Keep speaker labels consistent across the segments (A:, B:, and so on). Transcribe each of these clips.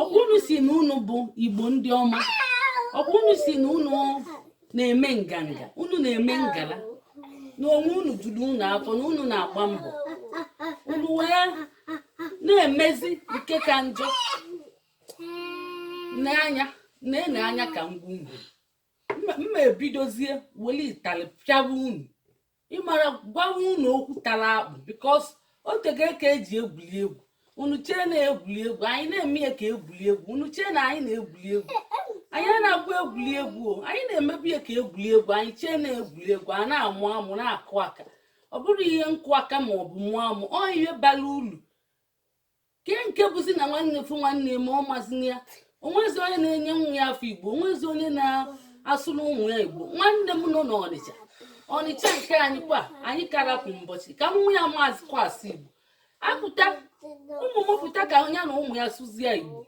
A: ọkwa unu si na unu bụ igbo ndị ọma ọkwa unu si na unu na-eme nganga unu na-eme ngala na onwe unu juru unu afọ na unu na-agba mbọ unu wee na-emezi nke ka njọ n'anya na-ene anya ka ngwungwu mma ebidozie weli itali pịawa unu ịmara gwawa unu okwu tara akpụ because o tego ka e ji egwuli egwu unu chee na egwuli egwu anyị na-eme ya ka egwuli egwu unu chee na anyị na-egwuli egwu anyị na-agwa egwuli egwu o anyị na-emebu ya ka egwuli egwu anyị chee na egwuli egwu a na-amụ amụ na-akụ aka ọ bụrọ ihe nkụ aka ma ọ bụ mụọ amụ ọ ihe bara uru ke nke bụzi na nwanne fụ nwanne ma ọ mazị ya o nwezi onye na-enye nwa ya afa igbo o nwezi onye na-asụrụ ụmụ ya igbo nwanne m nọ n'ọnịcha ọnịcha nke anyị kwa anyị ka rapụ mbọchị ka nwa ya amazịkwa asụ igbo apụta ụmụ m pụta ka ya na ụmụ ya sụzie igbo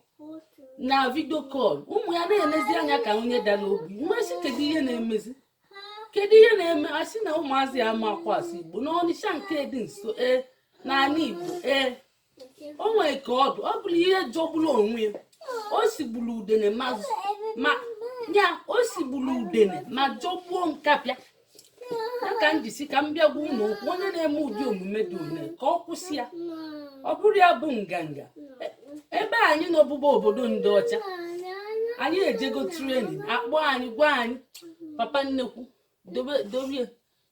A: na video call ụmụ ya na-enezi anya ka onye dara ogbi m wee sị kedu ihe na-emezi kedu ihe na-eme a sị na ụmụazị ya amakwa asụ igbo n'ọnịcha nke dị nso ee n'ala igbo ee o nwere ka ọ bụ ọ bụrụ ihe jọgburu onwe ya o sigburu udene ma ya o sigburu udene ma jọgbuo nkapị ya ka m ji sị ka m bịa gwa unu okwu onye na-eme ụdị omume dị one ka ọ kwụsị ya ọ bụrọ ya bụ nganga e, ebe anyị nọ ugbu a obodo ndị ọcha anyị ejego training a kpọ anyị gwa anyị papa nnekwu dobe dobe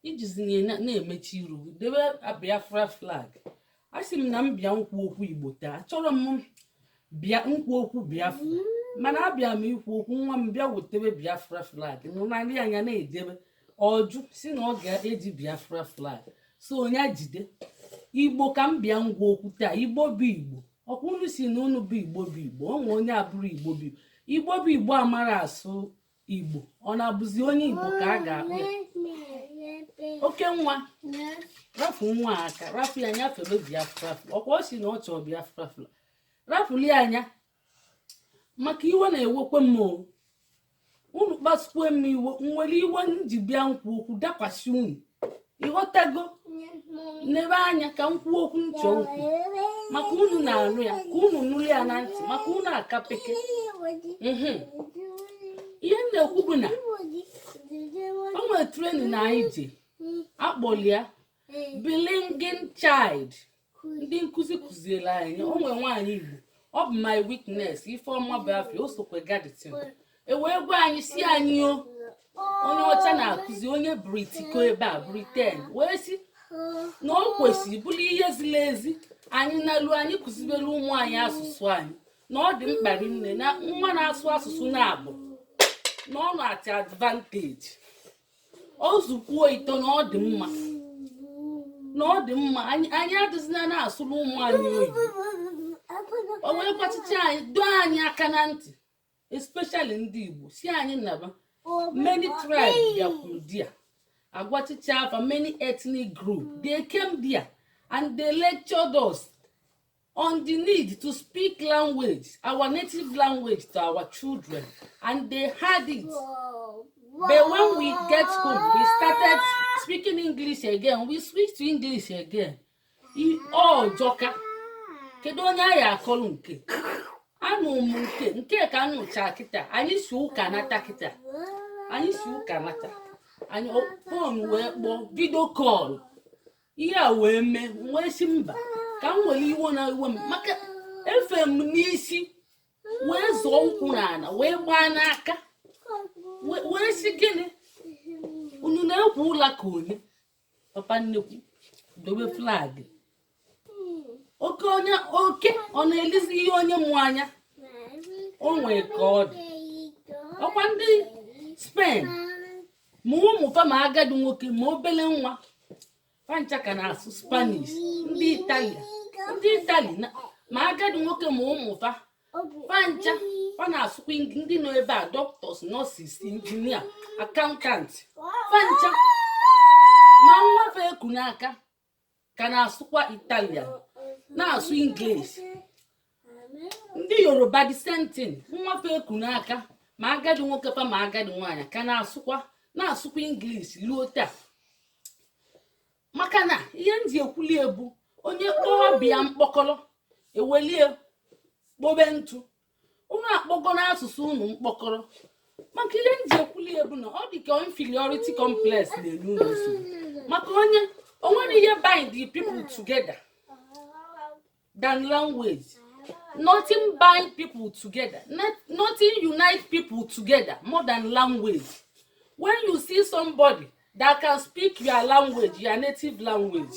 A: i jizi ihe na-emechi iru gị debe biafra flag asị m na m bịa nkwu okwu igbo taa achọrọ m bịa nkwu okwu biafra mana abịa m ikwu okwu nwa m bịa wetebe biafra flag nụnarị anya na-edebe ọ jụ sị na ọ ga-eji biafra flag sị ya jide igbo ka m bịa ngwa okwu taa igbo bụ igbo ọkwa unu si na unu bụ igbo bụ igbo o nwe onye abụrọ igbo bụ igbo bụ igbo amara asụ Igbo ọ na-abụzi onye Igbo ka a ga-akpọ ya oke nwa rafu nwa aka rafu ya anya fere biafra ọkwa ọ si na ọ chọọ biafra flag rafuli anya maka iwe na-ewekwe m unu kpasukwe m iwe nwere iwe m ji bịa nkwu okwu dakwasị unu ịghọtago nebe anya ka m kwuo okwu ntị okwu maka unu na-anụ ya ka unu nụrụ ya na ntị maka unu akapeke mhm. ihe m na-ekwu bụ na o nwere training anyị je a kpọli ya bilingual child ndị nkụzi kụziere anyị o nwere nwaanyị igbo ọ bụ my witness ifeọma bụ afa ya o sokwe ga the thing e wee gwa anyị si anyị o onye ọcha na-akụzi onye britiko ebe a britain wee si na o kwesịrị bụrụ ihe ziri ezi anyị nalu anyị kụzibere ụmụ anyị asụsụ anyị na ọ dị mkpa rinne na nwa na-asụ asụsụ naabọ na ọ na-adị advantage ọ sụkwuo ịtọ na ọ dị mma na ọ dị mma anyị adịzina na-asụrụ ụmụ anyị oyibo o wee gwachicha anyị dọọ anyị aka na ntị especially ndị Igbo si anyị naba many tribes bịakwuru there a gwachicha fa many ethnic group they came there and they lectured us on the need to speak language, our native language to our children, and they heard it. But when we get home, we started speaking English again. We switched to English again. I- Ọ jọka. Kedu onye a ya-akọlụ nke a? Anụ m nke nke ka m nụcha kịta. Anyị si ụka nata kịta. Anyị si ụka nata. Anyị phone wee kpọọ video call. ihe a wee mee wee si mba ka m were iwe na iwe m maka efe m n'isi wee zọọ ụkwụ n'ala wee gbaa n'aka wee si gịnị unu na-ekwu ụla ka onye papa nnekwu dobe flag oke onye oke ọ na-elizi ihe onye mụ anya o nwee ka ọ dị ọkwa ndị spain ma ụmụ fa ma agadi nwoke ma obele nwa fa ncha ka na-asụ spanish ndị itali ndị itali ma agadi nwoke ma ụmụ fa fa ncha fa na-asụkwa ndị nọ ebe a doctors nurses engineer accountant fa ncha ma nwa fa e ku n'aka ka na-asụkwa italian na-asụ english ndị yoruba the same thing nwa fa e ku n'aka ma agadi nwoke fa ma agadi nwaanyị ka na-asụkwa na-asụkwa english luo taa maka na ihe m ji ekwuli ya bụ onye kpọọ ọba ya mkpọkọrọ e welie kpobe ntụ unu akpọgonụ asụsụ unu mkpọkọrọ maka ihe m ji ekwuli ya bụ na ọ dị ka inferiority complex na-enye unu nsogbu maka onye o nwerọ ihe bind the people together than language nothing bind people together Not- nothing unite people together more than language when you see somebody that can speak your language your native language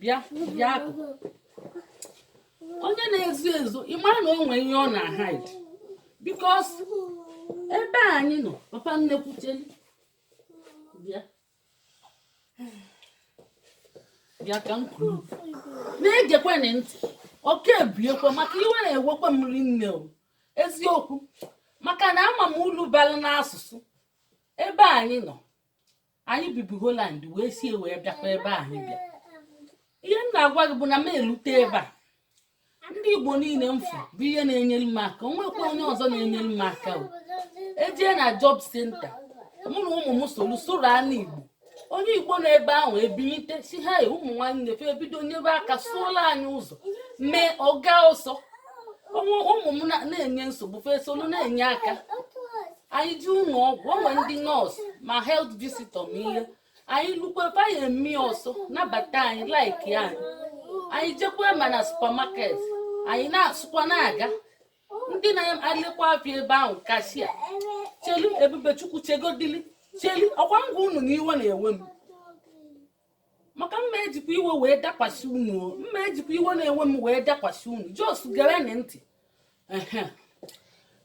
A: bịa bịa akụkụ onye na-ezo ezo ị mara na o nwee ihe ọ na-ahide because ebe a anyị nọ papa nnekwu Cheli bịa bịa ka m kwuru na-egekwenị ntị oke ebiekwa maka iwe na-ewekwa m rinne o eziokwu maka na ama m ulu balụ n'asụsụ ebe anyị nọ anyị bibu Holland wee sie wee bịakwa ebe a anyị bịa ihe m na-agwa gị bụ na m elute ebe a ndị igbo niile m fụ bụ ihe na-enyere m aka o nwekwa onye ọzọ na-enyere m aka o ejee na job centre mụ na ụmụ m soro soro anụ igbo onye igbo nọ ebe ahụ ebilite sị ha e ụmụ nwanne fa ebido nyebe aka sụọla anyị ụzọ mee ọ gaa ọsọ ụmụ m na-enye nsogbu fa esolu na-enye aka anyị jee ụnọ ọgwụ o nwee ndị nurse ma health visitor ma ihe anyị lukwe fa ya-eme ọsọ nabata anyị like anyị anyị jekwa ma na supermarket anyị na-asụkwa na-aga ndị na-alekwa afịa ebe ahụ cashier Cheli Ebubechukwu chegodili Cheli ọkwa m gwa unu na iwe na-ewe m maka m ma ejikwa iwe wee dakwasị unu m ma ejikwa iwe na-ewe m wee dakwasị unu just gerenụ ntị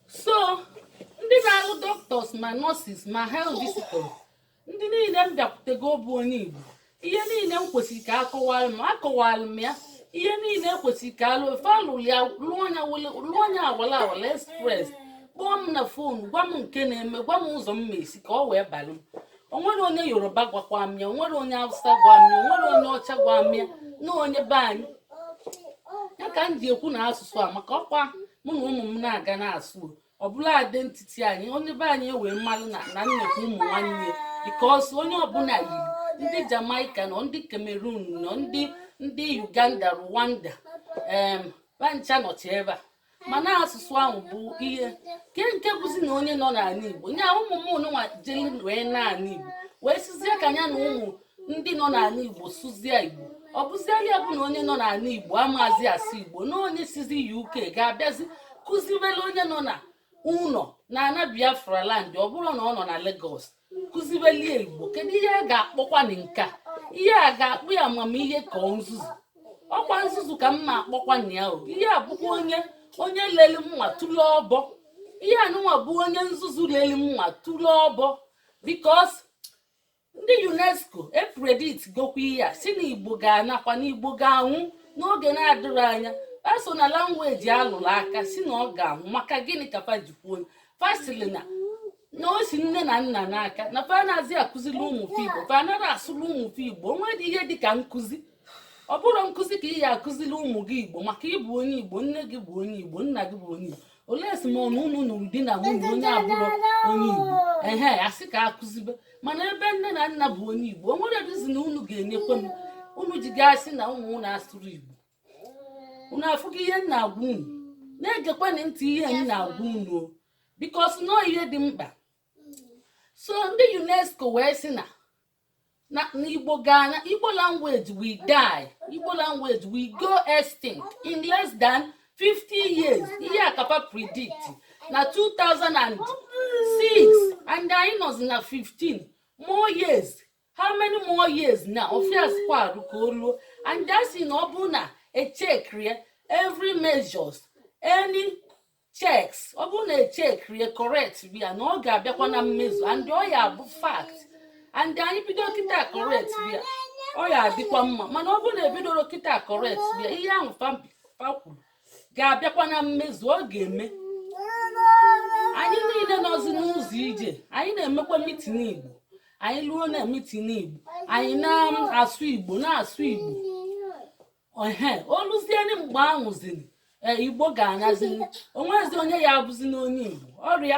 A: so ndị na-alụ doctors ma nurses ma health visitors ndị niile m bịakwutego bụ onye igbo ihe niile m kwesịrị ka a kọwara m a kọwara m ya ihe niile e kwesịrị ka a lụọ fa alụrụ ya lụọ nya wala wala express kpọọ m na phone gwa m nke na-eme gwa m ụzọ m ma esi ka ọ wee balụ m o nwere onye yoruba gwakwa m ya o nwere onye hausa gwa m ya o nwere onye ọcha gwa m ya na onye be anyị ya ka m ji ekwu na asụsụ a maka ọkwa mụ na ụmụ m na-aga na-asụ ọ bụlụ identity anyị onye be anyị ewee malụ na na nekwa ụmụ nwanne because onye ọbụna yiri ndị jamaica nọ ndị cameroon nọ ndị ndị uganda rwanda em fa ncha nọcha ebe a mana asụsụ ahụ bụ ihe ke nke bụzi na onye nọ n'ana Igbo nya ụmụ m ụnụnwa jeli wee n'ana Igbo wee sịzie ka nya na ụmụ ndị nọ n'ana Igbo sụzie Igbo ọ bụziela ya bụ na onye nọ n'ana Igbo amazi asụ Igbo na onye sizi UK ga-abịazi kụziwere onye nọ na ụnọ na ana Biafra land ọ bụrụ na ọ nọ na Lagos kụzibeli ya igbo kedu ihe a ga-akpọkwanụ nke a ihe a ga-akpọ ya amamihe ka ọ nzuzu ọkwa nzuzu ka m na-akpọkwanụ ya o ihe a bụkwa onye onye leli mma tụlụ ọbọ ihe anụnwa bụ onye nzuzu leli mma tụlụ ọbọ because ndị UNESCO epredictgokwa ihe a sị na igbo ga-anakwa na igbo ga-anwụ n'oge na-adịrọ anya eso na language a lụrụ aka sị na ọ ga-anwụ maka gịnị ka fa ji kwuo fa sịrị na na o si nne na nna n'aka na fa anazị akụziri ụmụ fa igbo fa anaghị asụrụ ụmụ fa igbo o nwedị ihe dị ka nkụzi ọ bụrọ nkụzi ka ị ya akụziri ụmụ gị igbo maka ị bụ onye igbo nne gị bụ onye igbo nna gị bụ onye igbo unless ma ọnụ unu nụrụ di na nwunye onye abụrọ onye igbo ehe a sị ka a kụzibe mana ebe nne na nna bụ onye igbo o nwerọ reason unu ga-enyekwe m unu ji ga-asị na ụmụ unu asụrọ igbo unu afụgo ihe m na-agwa unu na-egekwanụ ntị ihe m na-agwa unu o because na ọọ ihe dị mkpa so ndị unesco wee sị na na na igbo ga-ana igbo language will die igbo language will go extinct in less than 50 years ihe a ka fa predict na 2006 and anyị nọzi na 15 more years how many more years na ọ few years kwarụ ka o luo and a sị na ọ bụrụ na e checkrọ every measures any checks ọ bụrụ na e checkrọ ya correct ya na ọ ga-abịakwa na mmezu and ọ ya-abụ fact and anyị bido kịta correct ya ọ ya-adịkwa mma mana ọ bụrụ na ebidorọ kịta correct ya ihe ahụ fa fa kwuru ga-abịakwa na mmezu ọ ga-eme anyị niile nọzi n'ụzọ ije anyị na-emekwa mitin igbo anyị luo na mitin igbo anyị na-asụ igbo na-asụ igbo ehe o luzienụ mgbe ahụzini e, igbo ga-anazini o nwezi onye ya-abụzinụ onye igbo ọrịa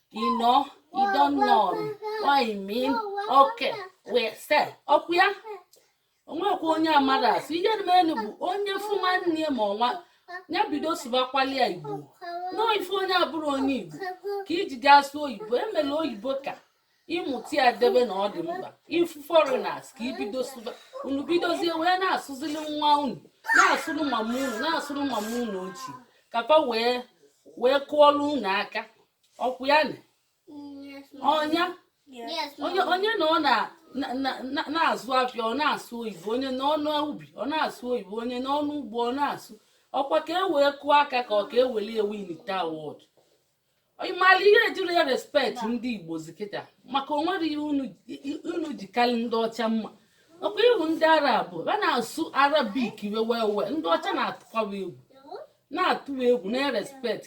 A: you know you don't know what you mean okay we say ọkwa ya o nwekwa onye amarọ asụ ihe dị elu bụ onye fụ nwanne ma ọ nwa ya bido sụbakwali ya igbo na ọọ ị fụ onye abụrọ onye igbo ka i ji ga-asụ oyibo e melu oyibo ka ị mụta ya debe na ọ dị mkpa ị fụ foreigners ka i bido sụba unu bidozie wee na-asụzili nwa unu na-asụrụ mama unu na-asụrụ mama unu ochie ka fa wee wee kụọlụ unu aka ọkwa ya na onye onye onye nọ na- na- na- na- na-azụ afịa ọ na-asụ oyibo onye nọ n'ubi ọ na-asụ oyibo onye nọ n'ugbo ọ na-asụ ọkwa ka e wee kụọ aka ka ọ ka eweli ewinta award ị mara ihe ejirọ erespect ndị igbo zi kịta maka o nwerọ ihe unu ji karị ndị ọcha mma ọkwa ị hụ ndị arab fa na-asụ arabic wee wee ndị ọcha na-atụkwa egwu na-atụ fa egwu na-erespect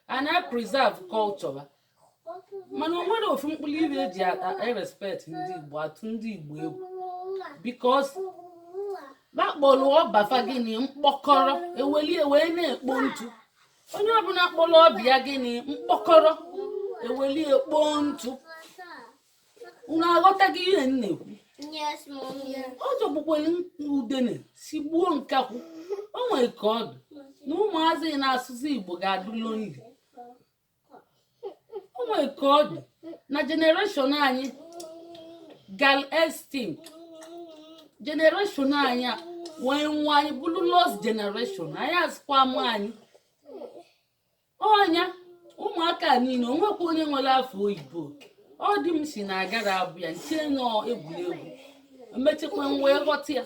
A: fa na-preserve culture mana o nwerọ ofu mkpụrụ ife e ji erespect ndị igbo atụ ndị igbo egwu because fa kpọrọ ọba fa gịnị mkpọkọrọ e weli e wee na-ekpo ntụ onye ọbụla kpọrọ ọba ya gịnị mkpọkọrọ eweli ekpo ntụ unu aghọtaghị ihe m na-ekwu ọ jọgbukwere udene sigbuo nkakwụ o nwere ka ọ dị na ụmụazị na-asụzi igbo ga-adị lonely o nwere ka ọ dị na generation anyị gala extinct generation anyị a wee nwa anyị bụrụ lost generation anyị azụkwa mụ anyị ọnya ụmụaka a niile o nwekwa onye nwere afa oyibo ọ dị m si na agara abụ ya nche nọ egwuregwu emechekwa wee ghọta ya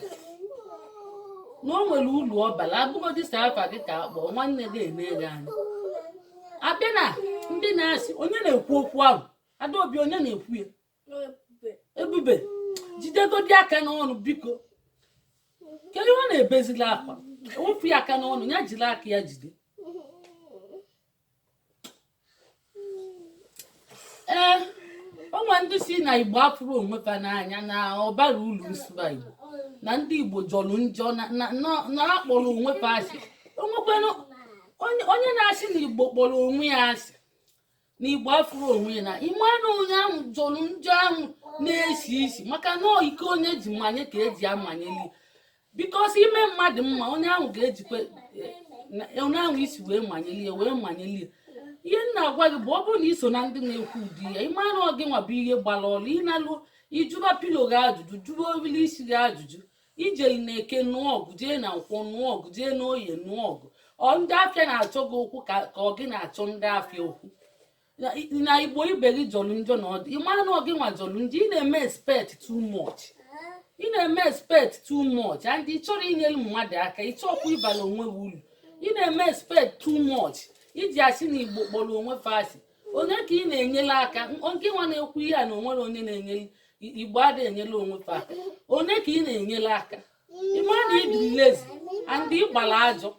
A: na o nwere ulu ọ bara abụgodị sa afa gị ka akpọ nwanne gị eme gị anya abịa na ndị na-asị onye na-ekwu okwu ahụ adaobi onye na-ekwu ya ebube jidegodi aka n'ọnụ biko kedu ihe ọ na-ebezili akwa ewepụ ya aka n'ọnụ ya jiri aka ya jide ee o nwe ndị si na igbo afụrọ onwe fa n'anya na ọ barọ ulu nsụba igbo na ndị igbo jọrọ njọ na- na- na- na akpọrọ onwe fa asị onwekwanụ onye onye na-asị na igbo kpọrọ onwe ya asị na igbo afụrọ onwe ya na ịma na onye ahụ jọrọ njọ ahụ na-esi isi maka na ọ iko onye ji manye ka eji amanyeli because ime mmadụ mma onye ahụ ga-ejikwa eh, onye ahụ isi wee manyelie wee manyelie ihe m na-agwa gị bụ ọ bụrụ na iso na ndị na-ekwu ụdị ya ịma na ọ gị nwa bụ ihe gbara ọrụ ịnalu ịjụba pillow gị ajụjụ jụba obili isi gị ajụjụ ijeli na eke nụọ ọgụ jee na nkwọ nụọ ọgụ jee na oye nụọ ọgụ ọ ndị afịa na-achọ gị okwu ka ọ gị na-achọ ndị afịa okwu na igbo ibe gị jọrọ njọ na ọdụ ị mara na ọ gị nwa jọrọ njọ ị na-eme expect too much ị na-eme expect too much and ị chọrọ inyere mmadụ aka ị chọọkwa ịbara onwe gị uru ị na-eme expect too much iji asị na igbo kpọrọ onwe fa asị onye ka ị na-enyere aka nke nwa na-ekwu ihe a na onwere onye na-enyere igbo adịghị enyere onwe fa aka onye ka ị na-enyere aka ịma na ị dị lazy and ịgbara ajọ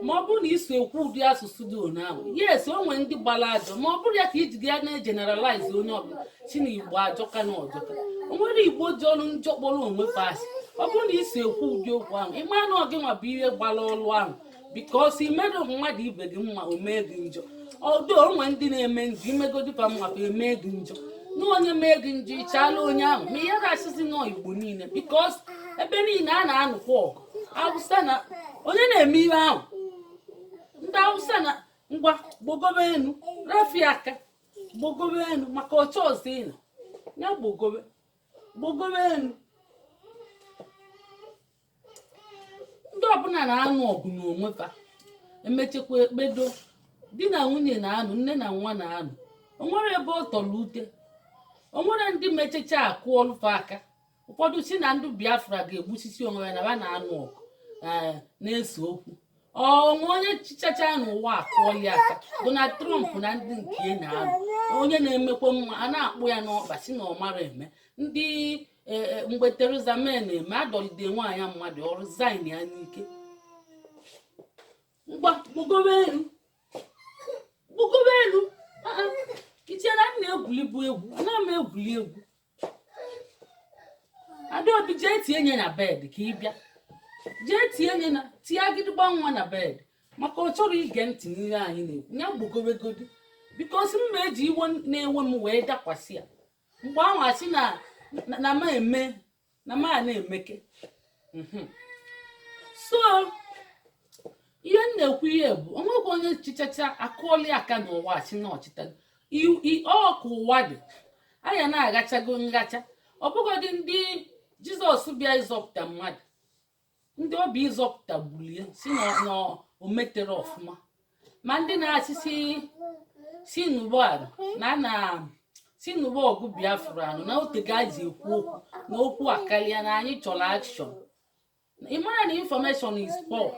A: ma ọ bụrụ na iso ekwu ụdị asụsụ dị one ahụ yes o nwere ndị gbara ajọ ma ọ bụrọ ya ka iji ya na-egeneralize onye ọbụla si na igbo ajọka na ọ jọka o nwere igbo jọrọ njọ kpọrọ onwe fa asị ọ bụrụ na iso ekwu ụdị okwu ahụ ịma na ọ gị nwa bụ ihe gbara ọrụ ahụ because imeru mmadụ ibe gị mma o mee gị njọ ọdụ onwe ndị na-eme njọ imegodi fa mma ka eme gị njọ na onye mee gị njọ ịchala onye ahụ ma ị ga-asịzi na ọ igbo niile because ebe niile a na-anụkwa ọgụ awụsa na onye na-eme ihe ahụ ndị awụsa na ngwa gbogobe enu rafi aka gbogobe enu maka ọcha ọzọ ịnọ ya gbogobe gbogobe enu ndị ọbụla na-anụ ọgụ n'onwe fa emechekwa ekpedo di na nwunye na-anụ nne na nwa na-anụ onwere ebe ọ tọrọ ute onwere ndị mechecha akụọlụ fa aka ụfọdụ si na ndị biafra ga-egbusisi onwe ya na ha na-anụ ọgụ ee na-ese okwu o nwe onye chichacha n'ụwa akụọli aka Donald Trump na ndị nke ya na-anụ onye na-emekwa mma a na-akpụ ya n'ọkpa sị na ọ mara eme ndị e, e, mgbe Theresa May na-eme adọlide nwaanyị mmadụ ọ resign ya n'ike ngwa gbugobe enu gbugobe enu iche na m na-egwulibu egwu ana m egwuli egwu Adaobi jee tie nye na bed ka ị bịa jee tie nye na tie agịdịgba nwa na bed maka ọ chọrọ ige ntị n'ihe anyị na-ekwu ya gbogowegodi because m ma eji iwe na-ewe m wee dakwasị ya mgbe ahụ asị na ma eme na ma na-emeke so ihe m na-ekwu ihe bụ o nwekwa onye chichacha akụọli aka n'ụwa a sị na ọ chịta ọkụ ụwa dị anya na-agachago ngacha ọ bụgodị ndị Jizọs bịa ịzọpụta mmadụ ndị ọ bịa ịzọpụta gbulie sị na o metere ọfụma ma ndị na-asị sị na ọ bụ ala na a na sị na ọ bụ ọgụ Biafra anụ na otego e ji ekwu okwu na okwu akarịa na anyị chọrọ action ị mara na information is power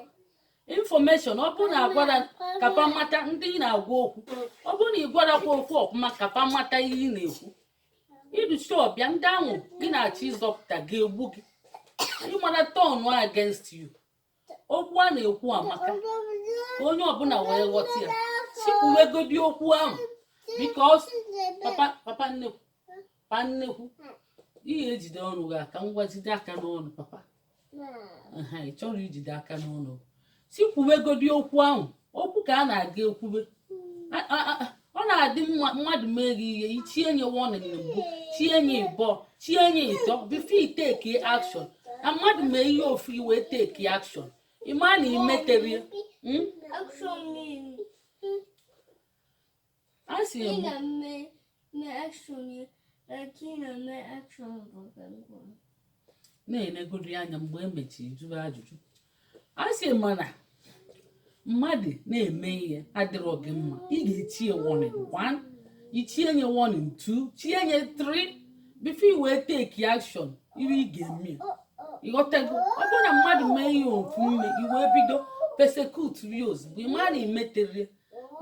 A: information ọ bụrụ na agwara ka fa mata ndị ị na-agwa okwu ọ bụrụ na ị gwarakwa okwu ọfụma ka fa mata ihe ị na-ekwu iduchi ọbịa ndị ahụ gị na-achọ ịzọpụta ga-egbu gị ịmara turn against you okwu a na-ekwu amaka ka onye ọbụla wee ghọta ya sikwuwegodi okwu ahụ because papa papa nnekwu pa nnekwu ihe ejide ọnụ gị aka ngwa jide aka n'ọnụ papa ị chọrọ ijide aka n'ọnụ si kwuwegodi okwu ahụ okwu ka a na-aga ekwube A- a- a- ọ na-adị mma mmadụ mee gị ihe ichie nye warning na mbụ chie nye ịbọ chie nye ịtọ before i take action na mmadụ mee ihe ofu i wee take action ịma na imeterie mm? Action means Asị m. Ina mme mme action ya eke ina mme action bụ ka m kwuru. nenegodi ya anya mgbe emechiri jụrụ ajụjụ a sị mana mmadụ na-eme ihe adịrọ gị mma ị ga-echi ya warning one ichie nye warning two chie nye three before you wee take action ihe ị ga-eme ịghọtago ọ bụrụ na mmadụ mee ihe ofu mgbe i wee bido persecute ya ozugbo ị mara imetere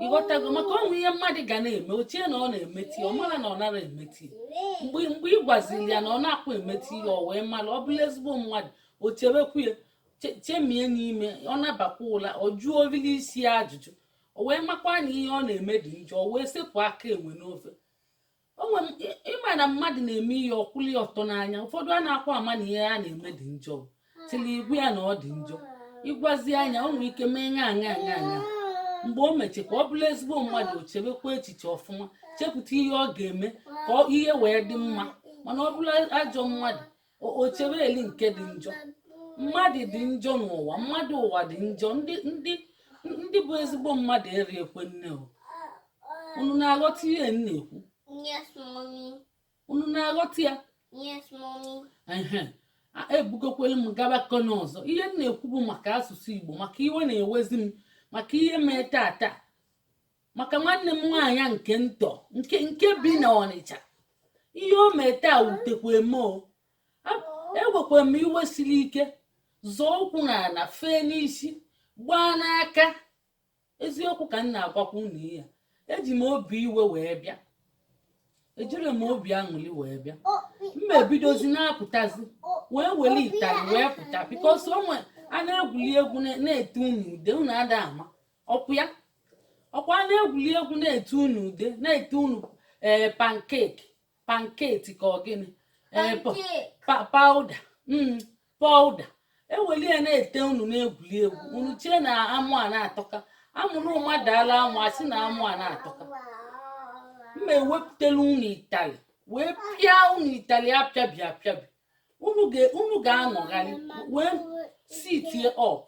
A: ịghọtago maka o nwe ihe mmadụ ga na-eme o chie na ọ na-emeti ọ mara na ọ nara emeti mgbe ị gwaziri ya na ọ na-akwụ emeti ya ọ wee mara ọ bụlụ ezigbo mmadụ o chebekwu ya chemie n'ime ọ nabakwa ụla ọ jụọ orili isi ya ajụjụ o wee makwa na ihe ọ na-eme dị njọ o wee sepụ aka enwe n'ofe onwe m ị ma na mmadụ na-eme ihe ọ kwụli ọtọ n'anya ụfọdụ anakwa ama na ihe a na-eme dị njọ tili ị gwa ya na ọ dị njọ ị gwazia ya o nwere ike mee ṅa ṅa ṅa ṅa mgbe o meche ka ọ bụrụ ezigbo mmadụ o chebekwa echiche ọfụma chepụta ihe ọ ga-eme ka ihe wee dị mma mana ọ bụrụ ajọ mmadụ o chebeli nke dị njọ mmadụ dị njọ n'ụwa mmadụ ụwa dị njọ ndị ndị ndị bụ ezigbo mmadụ erikwe nne o unu na-aghọta ihe m na-ekwu Yes, mommy. unu na-aghọta ya Yes, mommy. ehe a- ebugokwere m gaba kọna ọzọ ihe m na-ekwu bụ maka asụsụ igbo maka iwe na-ewezi m maka ihe mee tata maka nwanne m nwaanyị nke ntọ nke nke bi na ọnịcha ihe o mee taa wutekwa m o ewekwara m iwe siri ike zọọ ụkwụ n'ala fee n'isi gbaa n'aka eziokwu ka m na-agwakwa unu ihe a eji m obi iwe wee bịa ejiri m obi aṅụli wee bịa m ma-ebidozi na-apụtazi wee were itali wee pụta bikos o nwee a na-egwuli egwu na-ete unu ude unu ada ama ọkwa ya ọkwa a na-egwuli egwu na-ete unu ude na-ete unu ee eh, pankeki panketi ka ọ gịnị ee eh, pawuda mm, pawuda eweli ya na-ete unu na-egwuli egwu unu chee na amụ a na-atọka a mụrụ mmadụ ala amụ a sị na amụ a na-atọka m ma-ewepụtala unu itali wee pịa unu itali apịabi apịabi unu ga-anọgharị wee sitie ọp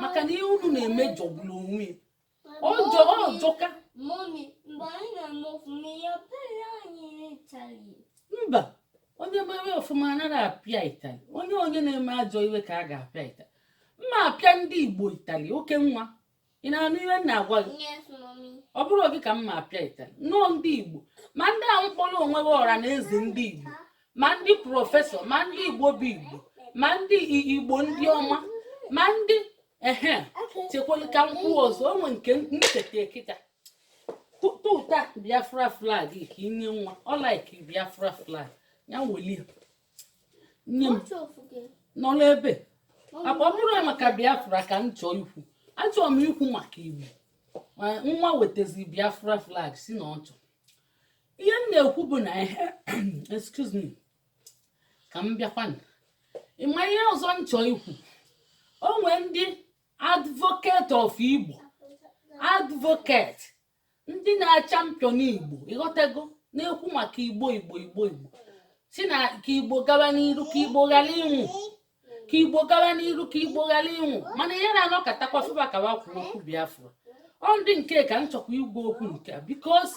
A: maka na ihe unu na-eme jọgburu onwe ya ọ jọ ọ jọka Mọmi, mgbe anyị na-eme ọfụma ihe ọbụla anyị rịtaghị. mba onye mere ọfụma anaghị apịa itali onye onye na-eme ajọ ihe ka a ga-apịa itali m ma-apịa ndị igbo itali oke nwa ị na-anụ ihe m na-agwa gị Yes, mọmi. ọ bụrọ gị ka m ma-apịa itali na ọ ndị igbo ma ndị ahụ kpọrọ onwe ha ọra na eze ndị igbo ma ndị prọfesọ ma ndị igbo bụ igbo ma ndị igbo ndị ọma ma ndị ehe chekwala ka m kwuo ọzọ o nwe nke m cheta kịta tụta biafra flag ka i nye nwa ọ laiki biafra flag ya welie nye m nọ n'ebe akpa ọ bụrọ maka biafra ka m chọọ ikwu achọrọ m ikwu maka igbo nwa wetazi biafra flag si na ọ chọrọ ihe m na-ekwu bụ na ihe excuse me ka m bịakwa ị ma ihe ọzọ m chọọ ikwu o nwee ndị advocate of igbo advocate ndị na-achampion igbo ị ghọtago na-ekwu maka igbo igbo igbo igbo si na ka igbo gaba n'iru ka igbo ghara ịnwụ ka igbo gawa n'iru ka igbo ghara ịnwụ mana ihe na-anọkọtakwa fụba ka wa kwuo okwu biafra ọ ndị nke ka m chọkwa ịgwa okwu nke a because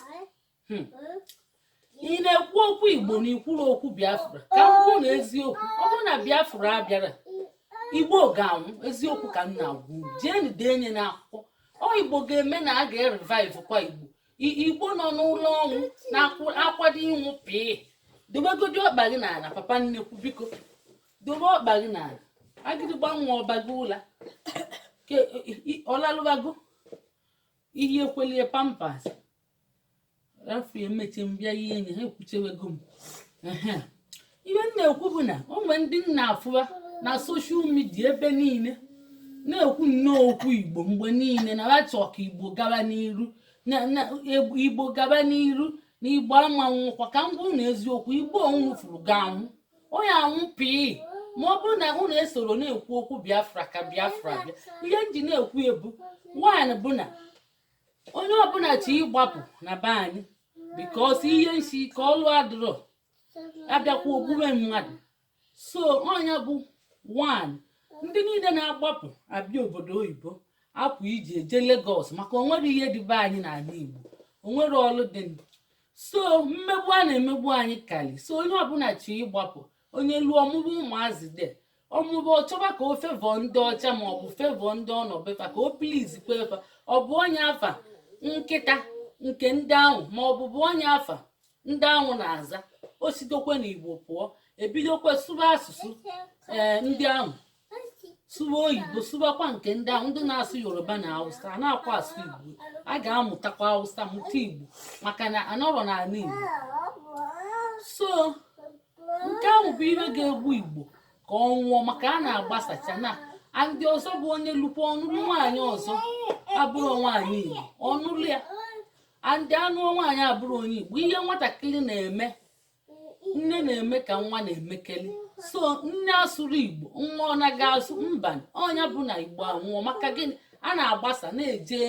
A: hmm, ị na-ekwu okwu igbo na ikwurọ okwu biafra ka m gwa unu eziokwu ọ bụrụ na biafra abịarọ igbo ga-anwụ eziokwu ka m na-agwa unu jeenụ denye na akwụkwọ ọ igbo ga-eme na a ga-revive kwa igbo igbo nọ n'ụlọ ọnwụ na-akwado ịnwụ pịị dobegodi ọkpa gị n'ala papa nnekwu biko dobe ọkpa gị n'ala agịdịgba nwa ọba gị ụla ọ lalụbago iyi ekwelie pampers rapụ emechaa m bịa ihe enyi ha ekwuchewego m ihe m na-ekwu bụ na o nwere ndị m na-afụwa na social media ebe niile na-ekwu nnọọ okwu igbo mgbe niile na ha chọọ ka igbo gaba n'iru na igbo gaba n'iru na igbo ama anwụkwa ka m gwa unu eziokwu igbo unu fụrụ ga-anwụ ọ ya-anwụ pii ma ọ bụrụ na unu esorọ na-ekwu okwu biafra ka biafra bịa ihe m ji na-ekwu etu nwanụ bụ na onye ọbụla chọ ịgbapụ na be anyị because ihe nsi ike ọlụ adịrọ abịakwa egbube mmadụ so ọ nya bụ nwanụ ndị niile na-agbapụ abịa obodo oyibo apụ iji eje Lagos maka onwerọ ihe dị be anyị n'ala Igbo onwerọ ọlụ dịnụ so mmegbu a na-emegbu anyị kalị so onye ọbụla chọ ịgbapụ onye luo ọ mụọ ụmụazị de ọmụbụ ọ chọba ka ọ favour ndị ọcha ma ọ bụ favour ndị ọ nọ be fa ka o please kwe fa ọ gụọ nya afa nkịta nke ndị ahụ ma ọ bụ gụọ nya afa ndị ahụ na-aza o sitokwe na igbo pụọ ebidokwe sụba asụsụ ee ndị ahụ sụba oyibo sụbakwa nke ndị ahụ ndị na-asụ yoruba na hausa a na-akwa asụ igbo a ga-amụtakwa hausa mụta igbo maka na anọrọ n'ala igbo so nke ahụ bụ ihe ga-egbu igbo ka ọ nwụọ maka a na-agbasacha na ndị ọzọ bụ onye lukwa ọ nụlụ nwaanyị ọzọ abụrọ nwaanyị igbo ọ nụlụ ya and a nụọ nwaanyị abụrọ onye igbo ihe nwatakịrị na-eme nne na-eme ka nwa na-emekalị so nne asụrọ igbo nwa ọ na-aga asụ mba ọ nya bụ na igbo anwụọ maka gịnị a na-agbasa na-eje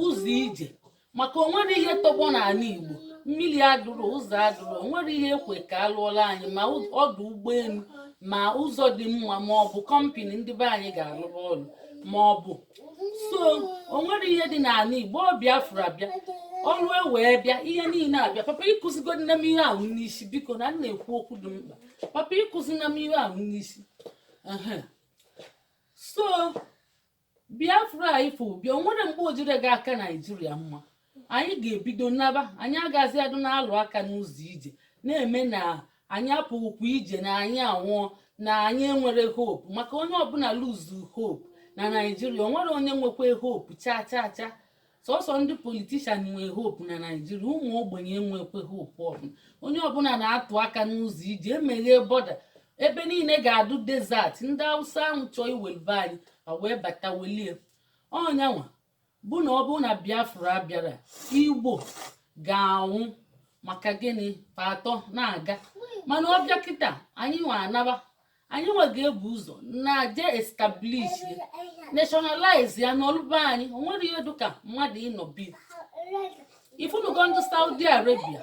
A: ụzọ ije maka onwerọ ihe tọgbọ n'ala Igbo mmiri adịrọ ụzọ adịrọ onwerọ ihe e kwe ka a lụọla anyị ma ọdụ ụgbọelu ma ụzọ dị mma ma ọ bụ kọmpini ndị be anyị ga-alụrụ ọrụ ma ọ bụ so onwerọ ihe dị n'ala Igbo ọ Biafra bịa ọrụ e wee bịa ihe niile abịa papa akụzikwana m ihe ahụ n'isi biko na m na-ekwu okwu dị mkpa papa akụzina m ihe ahụ n'isi so biafra anyị fụ bịa o nwere mgbe o jire ga-aka naijiria mma anyị ga-ebido naba anyị agazi adụ na-alụ aka n'ụzọ ije na-eme na anyị apụghịkwa ije na anyị anwụọ na anyị enwere hope maka onye ọbụla luzu hope na naijiria o nwere onye nwekwe hope chaa chaa chaa sọsọ ndị politishan nwee hope na naijiria ụmụ ogbenye enwekwe hope ọbụla onye ọbụla na-atụ aka n'ụzọ ije emeghe bọda ebe niile ga-adụ desert ndị awụsa ahụ chọọ iweli be anyị wee bata welie ọnyanwa bụ na ọ bụrụ na biafra abịara igbo ga-anwụ maka gịnị pa atọ na-aga mana ọ bịa kịta anyị nwa anaba anyị nwa ga-ebu ụzọ naa je establish nationalize ya nọlụ be anyị o nwere ihe dịka mmadụ ịnọ be ya ifunugo ndị saudi arabia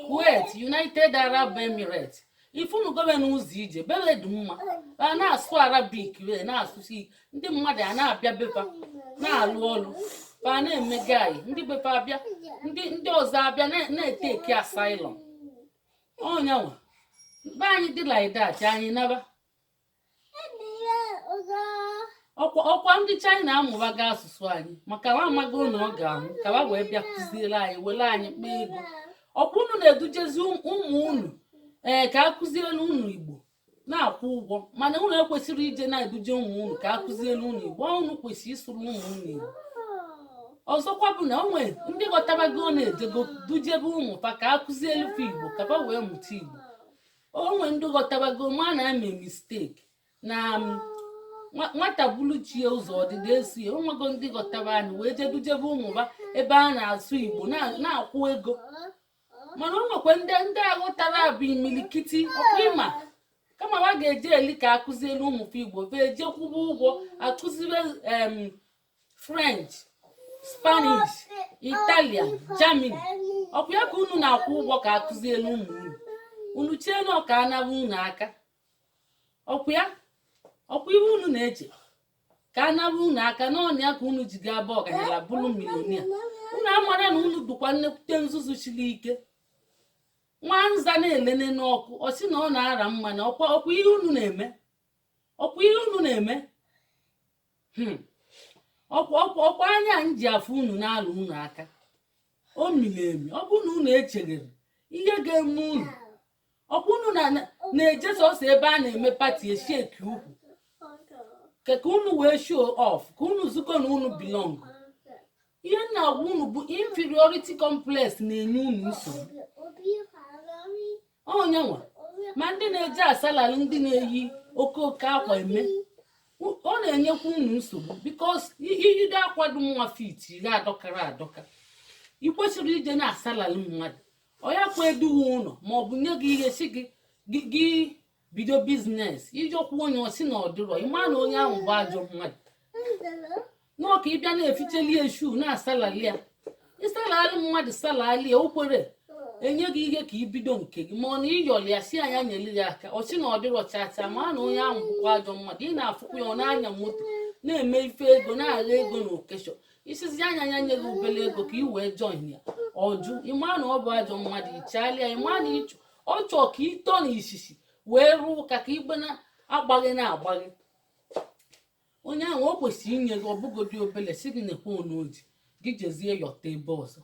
A: kuwait united arab emirates ifunugo be n'ụzọ ije be be dị mma a na-asụ arabik be na-asụsi ndị mmadụ a na-abịa be pa na-alụ ọlụ pa na-emega anyị ndị be pa abịa ndị ndị ọzọ abịa na- na-eteki asylum ọnyanwa be anyị dị like that anyị naba ọkwa ọkwa ndị China amụbaga asụsụ anyị maka na amago na ọ ga-anwụ ka ha wee bịa kụzielu anyị welu anyị kpaa ego ọkwa unu na-edujezi ụm- ụmụ unu ee ka a kụzielu unu Igbo na-akwụ ụgwọ mana unu ekwesịrị ije na-eduje ụmụ unu ka akụzielu unu igbo unu kwesịrị ịsụrụ ụmụ unu igbo ọzọkwa bụ na o nwe ndị ghọtabago na-ejego dujebe ụmụ fa ka akụzielu fa igbo ka fa wee mụta igbo o nwe ndị ghọtabago ma na eme misteki na nwata bulu chi ya ụzọ ọdịda esi ya o nwego ndị ghọtaba anyị wee je dujebe ụmụ ha ebe a na-asụ igbo na-akwụ ego mana o nwekwa ndị ndị aghọtara bụ imilikiti ọkwa ị ma kama ha ga-eji eli ka akụzielu ụmụ fe igbo be eje kwụba ụgwọ akụzibe em french spanish italian germany ọkwa ya ka unu na-akwụ ụgwọ ka akụzielu ụmụ unu unu chee na ọ ka a naba unu aka ọkwa ya ọkwa ihe unu na-eche ka a nara unu aka na ọ nya ka unu ji ga-abụ ọganyala bụrụ milonia unu amara na unu dụkwa nnekwute nzuzu shili ike nwa nza na-ele ele n'ọkụ ọ sị na ọ na-ara mmanụ ọkwa ọkwa ihe unu na-eme ọkwa ihe unu na-eme Hmm. ọkwa ọkwa ọkwa anya anyị ji afụ unu na-alụ unu aka o miri emi ọ bụrụ na unu echere ihe ga-eme unu ọkwa unu na-eje sọsọ ebe a na-eme party esheki ukwu ka unu wee show off ka unu zukọ na unu belong ihe na-agwa unu bụ inferiority complex na-enye unu nsogbu onyenwa ma ndị na-eje asalari ndị na-eyi okooko akwa eme ọ na-enyekwa unu nsogbu because iyido akwa dụ nwa fit ga adọkara adọka ị kwesịrị ije na-asalari mmadụ ọ yakwa edu gị ụlọ ma ọ bụ nye gị ihe sị gị bido business ijọkwa onye ọ sị na ọ dịrọ ị ma na onye ahụ bụ ajọ mmadụ na ọ ka ị bịa na-eficheli eshu na-asalali ya ị salali mmadụ salali ya o kwerọ enye gị ihe ka i bido nke gị ma ọ na ị yọli ya sị ya ya nyere gị aka ọ sị na ọ dịrọ chacha ma na onye ahụ bụkwa ajọ mmadụ ị na-afụkwa ya ọ na-anya moto na-eme ife ego na-agha ego na occasion ị sịzị ya ya nye gị obele ego ka ị wee join ya ọ jụ ị ma na ọ bụ ajọ mmadụ i chegharịa ị ma na ịchọ ọ chọọ ka ị tọ na isisi wee rụọ ụka ka igbe na-agbaghị na-agbaghị onye ahụ o kwesịrị inye gị ọbụgodi obele sị gị nekwe one o ji gị jezie yọta ebe ọzọ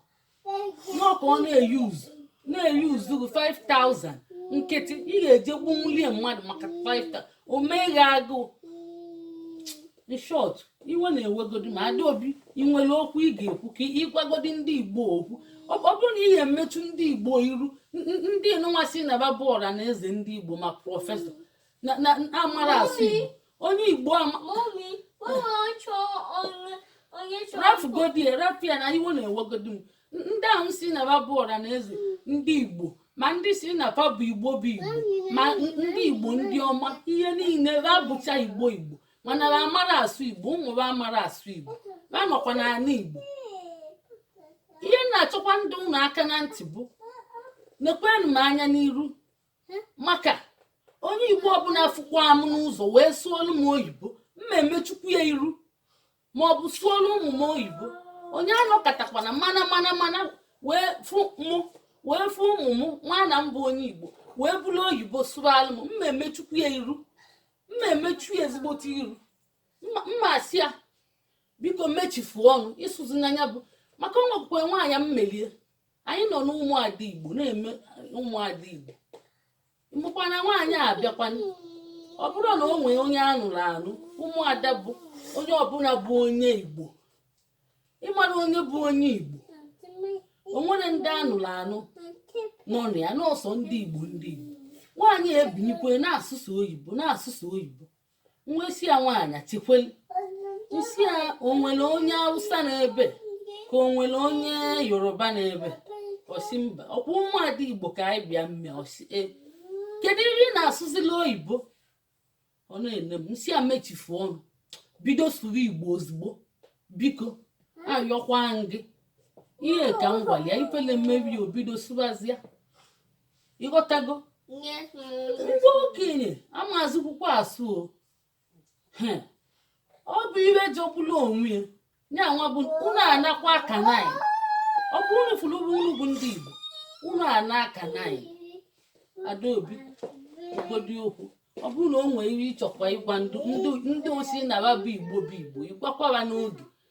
A: na ọ ka ọ na-eyuzu na-eyuzu 5000 nkịtị ị ga-eje gbunwulie mmadụ maka 5000 o meghị agụụ in short iwe na-ewegodi m Adaobi ị nwere okwu ị ga-ekwu ka ị gwagodi ndị igbo okwu ọ ọ bụrụ na ị ga-emetụ ndị igbo iru n- n- ndị nụnwa sị na ba bụ ọra na eze ndị igbo ma professor na na- na amarọ asụ igbo onye igbo ama Mami, mama chọ onye onye chọ. rafugodi rafu ya na iwe na-ewegodi m ndị ahụ sị na ba bụ ọra na eze ndị igbo ma ndị sị na fa bụ igbo bụ igbo ma n- ndị igbo ndị ọma ihe niile ba bụcha igbo igbo mana ba amarọ asụ igbo ụmụ ba amarọ asụ igbo ba nọkwa n'ala igbo ihe m na-achọkwa ịdọ unu aka na ntị bụ nekwenụ m anya n'iru maka onye igbo ọbụla fụkwa m n'ụzọ wee sụọlụ m oyibo m ma emechukwu ya iru ma ọ bụ sụọlụ ụmụ m oyibo onye anọkatakwana mana mana mana wee fụ mụ wee fụ ụmụ m nwana m bụ onye igbo wee buru oyibo sụalụ m m ma emechukwu ya iru m ma emechu ya ezigbote iru m ma asị ya biko mechifu ọnụ ị sụzina ya bụ maka o nwekwukwe nwaanyị m meli ya anyị nọ n'ụmụada igbo na-eme ụmụada igbo mụkwa na nwaanyị a bịakwa ọ bụrụ na o nwee onye a nụrụ anụ ụmụada bụ onye ọbụla bụ onye igbo ị mara onye bụ onye igbo o nwere ndị a nụrụ anụ nọ na ya na ọ sọ ndị igbo ndị igbo nwaanyị ebinikwe na-asụsị oyibo na-asụsị oyibo m wee sị ya nwaanyị tikweli m sị ya o nwere onye awụsa nọ ebe a ka o nwere onye yoruba nọ ebe a ọ sị mba ọkwa ụmụada igbo ka anyị bịa mme ọ sị ee kedu ihe ị na-asụzila oyibo ọ na-ene m m sị ya mechifu ọnụ bido sụrụ igbo ozugbo biko ayọkwa m gị ihe ka m gwara ya ifele mebe ya o bido sụbazia ị ghọtago ndị okenye amazụkwukwa asụ o He. ọ bụ ihe jọgburu onwe ya ya nwa bụ unu anakwa aka nanyị ọ bụ unu fụrụ bụ unu bụ ndị igbo unu ana aka nanyị adaobi kwugodi okwu ọ bụrụ na o nwere ihe ị chọkwa ịgwa ndị ndị- ndị ọ sị na ba bụ igbo bụ igbo ị gwakwa ba n'oge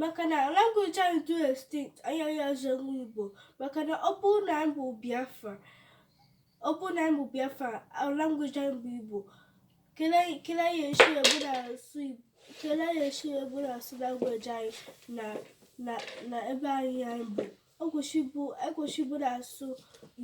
B: maka na language anyị dị extinct anyị anya zọrọ igbo maka na ọ bụrụ na anyị bụ biafra ọ bụrụ na anyị bụ biafra language anyị bụ igbo kele anyị esi egbu na asụ igbo kele anyị esi egbu na asụ language anyị na na ebe anyị anyị bụ ekwesị ịbụ na-asụ